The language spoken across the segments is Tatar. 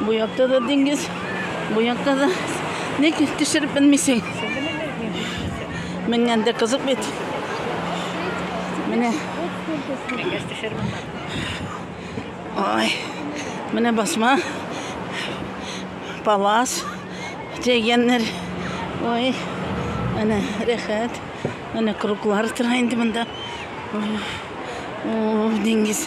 Бу якта да диңгез, бу якта да. Ник төшереп белмисең? Менгән дә кызык бит. Менә. Менгәс төшереп. Ай. Менә басма. Палас. Дигәннәр. Ой. Әнә рәхәт. Әнә круглар тора инде монда. Ой, диңгез.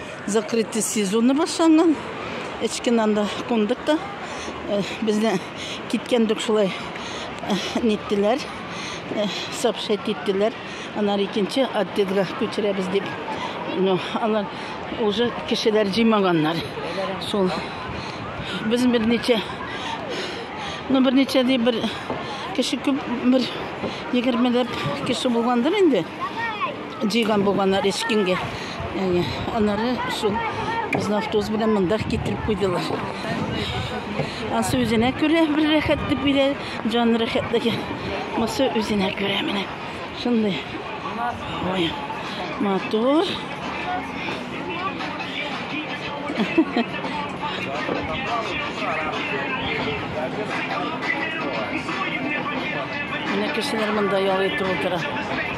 Закрытый сезоны башланган. Эчкеннән дә кундык та. Э, Безне киткәндек шулай э, ниттеләр, э, сообщать иттеләр. Анар икенче отделга күчерәбез дип. Но алар уже кешеләр җыймаганнар. Шул без берничә ну берничә дип бер кеше күп бер егермеләп кеше булгандыр инде. Җыйган булганнар эчкенгә. Әйе. Аннары шул безне автобус белән монда китереп куйдылар. Ансы үзенә күрә бер рәхәтлек бирә, җан рәхәтлеге. Монсы үзенә күрә менә. Шундый. Ой, матур. Менә кешеләр монда ял итеп утыра.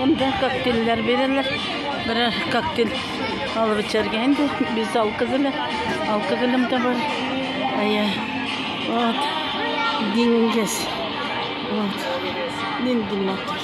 Монда коктейльләр бирәләр. Берәр коктейль алып эчәргә инде. Без алкы белән, алкы белән дә бар. Әйе. Вот. Диңгез. Вот. Нинди матур.